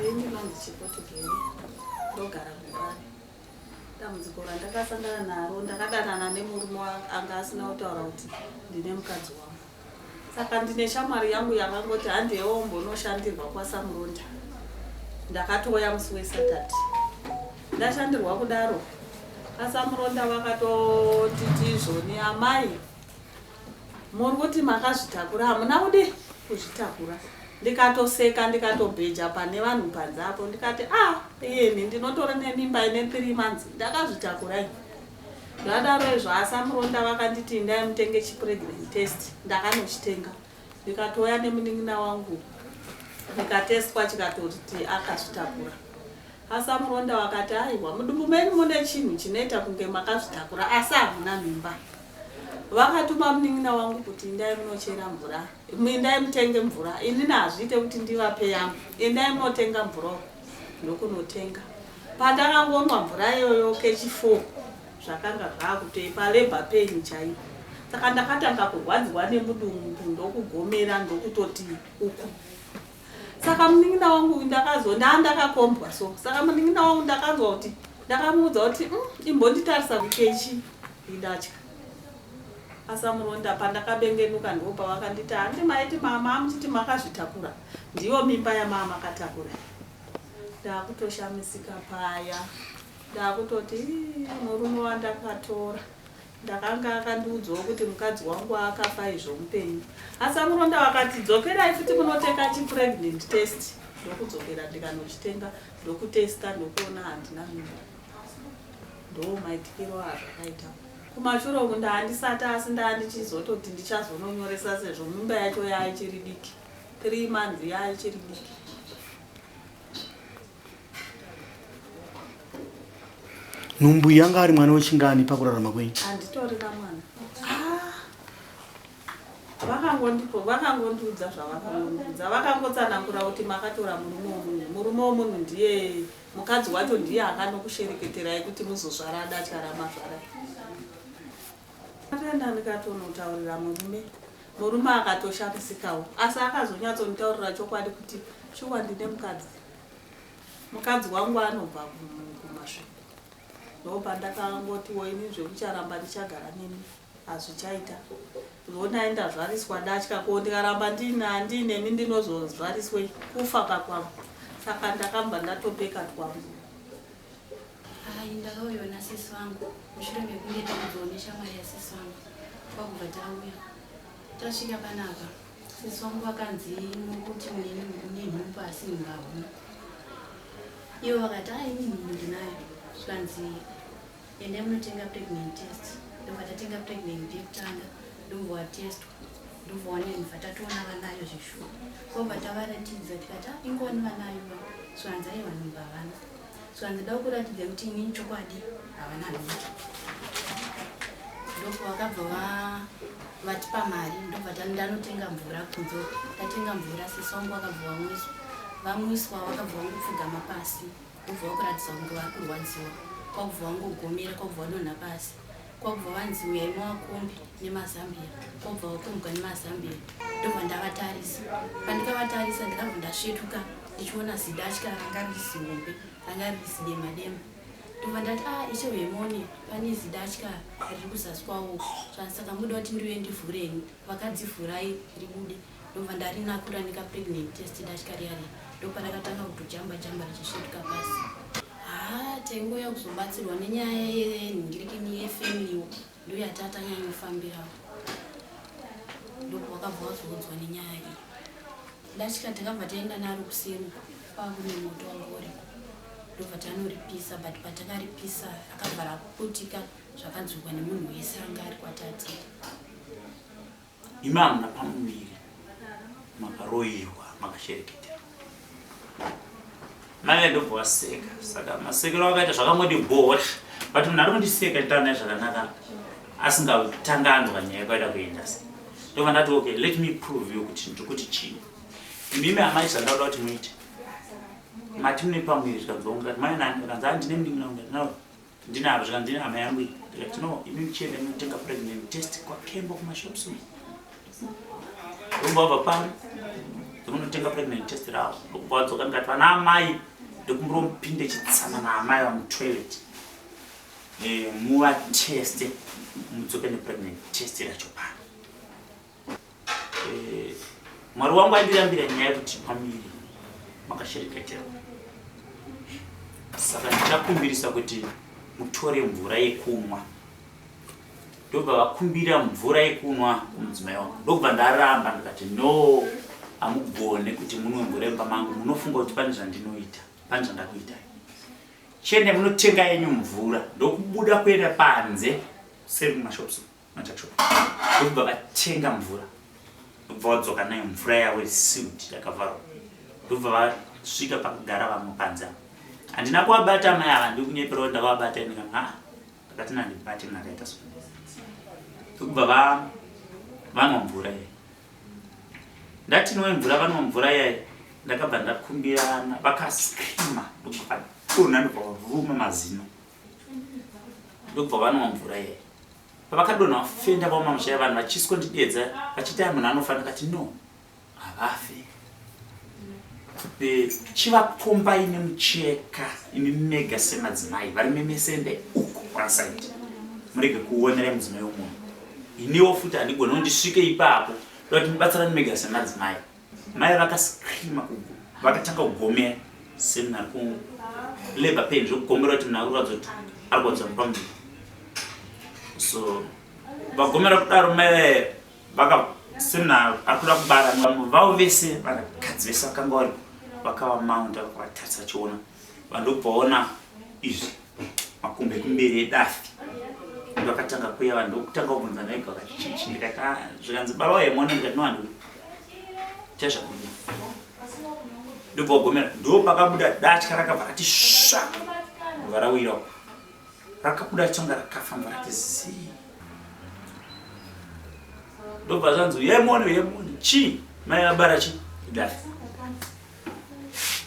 Ini vanzi Chipotigeri ndogara kuHarare. Dambudziko randakasangana naro ndakadanana nemurume anga asina kutaura kuti ndine mukadzi wangu. Saka ndine shamwari yangu yakangoti handiyewo mbonoshandirwa kwaSamurunda. Ndakatouya musi weSaturday. Ndashandirwa kudaro aSamurunda vakatoti tizvoni amai Muri kuti makazvitakura hamuna kudi kuzvitakura ndikatoseka ndikatobheja pane vanhu panze apo ndikati a ah, iyeni ndinotori nemimba ine three months ndakazvitakura i zvadaro izvo asamuronda vakanditi indai mutenge chipregnant test ndakanochitenga ndikatouya nemunin'ina wangu ndikatestwa chikatoriti akazvitakura asamuronda wakati aiwa mudumbu menyu mune chinhu chinoita kunge makazvitakura asi hamuna mimba Vakatuma munin'ina wangu kuti indai munochera mvura, indai mutenge mvura. Inini hazviite kuti ndivape yangu, indai munotenga mvura uko. Ndokunotenga. Pandakangonwa mvura iyoyo kechi four zvakanga zvakutei palabor pain chaipo. Saka ndakatanga kurwadziwa nemudumbu ndokugomera ndokutoti uku. saka munin'ina wangu uyu ndakazo ndaa ndakakombwa so saka munin'ina wangu ndakanzwa kuti ndakamuudza kuti mm, imbonditarisa kukechi indatya asamuronda pandakabengenuka ndo pavakanditi handi maiti mama amuchiti makazvitakura ndiyo mimba yamama makatakura ndaakutoshamisika paya ndaakutoti murume wandakatora Ndakanga akandiudzawo kuti mukadzi wangu akafa izvo mupenyu. Asi amuronda wakati dzokerai futi munotenga chi pregnant test ndokudzokera ndikanochitenga ndokutesta ndokuona handina mimba. Ndoo maitikiro azvakaita. Kumashure uku ndaandisati asi ndaandichizototi ndichazononyoresa sezvo mimba yacho yaichiri diki. 3 months yaichiri diki. nhumbu iyi yanga ari mwana wechingani pakurarama kwenyu anditorina mwana ah. vakangondipo vakangondiudza zvavakangondiudza vakangotsanangura kuti makatora murume womunhu murume womunhu ndiye mukadzi wacho ndiye akanokushereketerai kuti muzozvara adatyara mazvara atoenda ndikatonotaurira murume murume akatoshamisikawo asi akazonyatsonitaurira chokwadi kuti shuwa ndine mukadzi mukadzi wangu anobva kumasviko ndopandakangoti woini zvekucharamba ndichagara nemi hazvichaita zvokuti aenda zvariswa datya ko ndikaramba ndinemi ndinozozvariswei kufa pakwangu saka ndakamba ndatopeka twangu hai ndakauyaona sisi vangu mushure mekunge takubvaoneshamwari yasisi vangu kwakubva tauya tasvika panapa Sisi wangu vakanzi mukuti mune nhumbu asi mungahuna ivo vakati a ini nhumbu ndinayo zvikanzi endai munotenga pregnant test ndobva tatenga pregnant yekutanga ndobva watestwa ndobva wanini bva tatoona vanayo zveshuwa kobva tavaratidza tikati a ingoni vanayo zvikanzi aiwa nhumbu havana so handida kukuratidza kuti inini chokwadi havana handicho ndoko vakabva vatipa mari ndobva ndanotenga mvura kunze ndatenga mvura sisi wangu vakabva vamwiswa vamwiswa vakabva vangopfugama pasi ndobva vakuratidza kunge vari kurwadziwa kwakubva vangogomera kwakubva vadonha pasi kwakubva vanzi uyai mawakombi nemazambia kwakubva wakombwa nemazambia ndobva ndavatarisa pandikavatarisa ndikabva ndasvetuka ndichiona zidatya ranga ririsiombe ranga ririsidema dema ndobva ndati a ah, ishe wemone pane zidatya riri kuzasi kwawo saka muda kuti ndiuye ndivhureni vakadzivhurai ribude ndobva ndarinako randika pregnant test datya riyari ndoparakatanga kutojamba jamba richisvetuka pasi haa taingouya kuzobatsirwa nenyaya yenhingirikini yefamiliwo ndoyatatanyanyofambirawo ndokuvakabva wazoudzwa nenyaya iyi ndatya takabva taenda naro kuseni kwakune moto wangori ndobva tanoripisa but patakaripisa akabva rakuputika zvakanzwikwa nemunhu wese anga ari kwatati Imi hamuna pamuviri makaroirwa makashereketera maive ndobva vaseka saka masekero vakaita zvakangodi bhora but munhu ari kundiseka nditaura naye zvakanaka asingatanga anzwa nyaya kwaida kuenda se ndobva ndati okay let me prove you kuti ndiri kuti chii imimi amai zvandauda kuti muite mati mune pamuviri zvikanzwa ungati mai nani akanzi andine mdingi naungatinao Ndinaro zvikanzi ndine hama yangu iyi ndikati no imi muchienda munotenga pregnant test kwakembo kumashops umu rumba wabva pari ndokunotenga pregnant test ravo ndokubva wadzoka ndikati vana amai ndokumbira mupinde chitsama naamai vamutoilet eh, muvateste mudzoke nepregnant test racho pano Eh, mwari wangu andirambira nyaya yekuti pamiri makashereketera saka ndichakumbirisa kuti mutore mvura yekunwa ndobva vakumbira mvura yekunwa kumudzimai wangu ndokubva ndaramba ndikati no hamugone kuti munwe mvura yemba mangu munofunga kuti pane zvandinoita pane zvandakuitai chiende munotenga yenyu mvura ndokubuda kuenda panze seri mumashops Matatsvuka ndokubva vatenga mvura ndokubva vadzoka nayo mvura yavo yesiwid yakavharwa ndokubva vasvika pakugara vamwe panze avo handina kuvabata amai ava ndikunyeperawo ndavabata ini kana haa ndakati nandibate mna akaita so ndokubva vanwa mvura iye ndati nowe mvura vanwa mvura iyayi ndakabva ndakumbirana vakascrima ndokubva vadona ndokubva vavuma mazino ndokubva vanwa mvura iye pavakadonha vafenda vaoma musha yavanhu vachiswa ndidedza vachiti ai munhu anofa ndikati no havafe chivakombai nemucheka imi mega semadzimai vari memesende uku kwasaiti murege kuonera mudzimai womunhu iniwo futi handigoni ndisvike ipapo ndokuti mubatsirani mega semadzimai Mai vakascreama vakatanga kugomera semunhu ari kulabor pain zvekugomera kuti munhu akurwadza kuti ari kurwadza nepamuviri so vagomera kudaro mai vaye vaka semunhu ari kuda kubara vamwe vavo vese vanakadzi vese vakanga vari vakava maunda vakatarisa chiona Vandobvaona izvi makumbe kumberi edafi ndakatanga kuya vanhu ndokutanga kubvunza naiga vakati chichi ndikati "Ah, zvikanzi baba uye mwana ndikati nowani chazvakuda ndobva wagomera ndopakabuda datya rakabva rati sva ndobva rawira uko. rakabuda tsonga rakafa ndobva rati zii ndobva zvanzi uye mwana uye mwana chii mai vabara chii idafi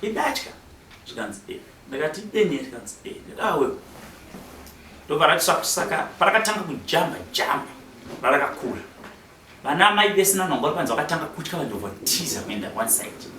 idatya zvikanzi e ndakati ideni zvikanzi e ndakawe ndobva ratisakusaka parakatanga kujamba jamba rarakakura vana amai vese nanongo vari panzi vakatanga kutya vanhu ndobva tiza kuenda one side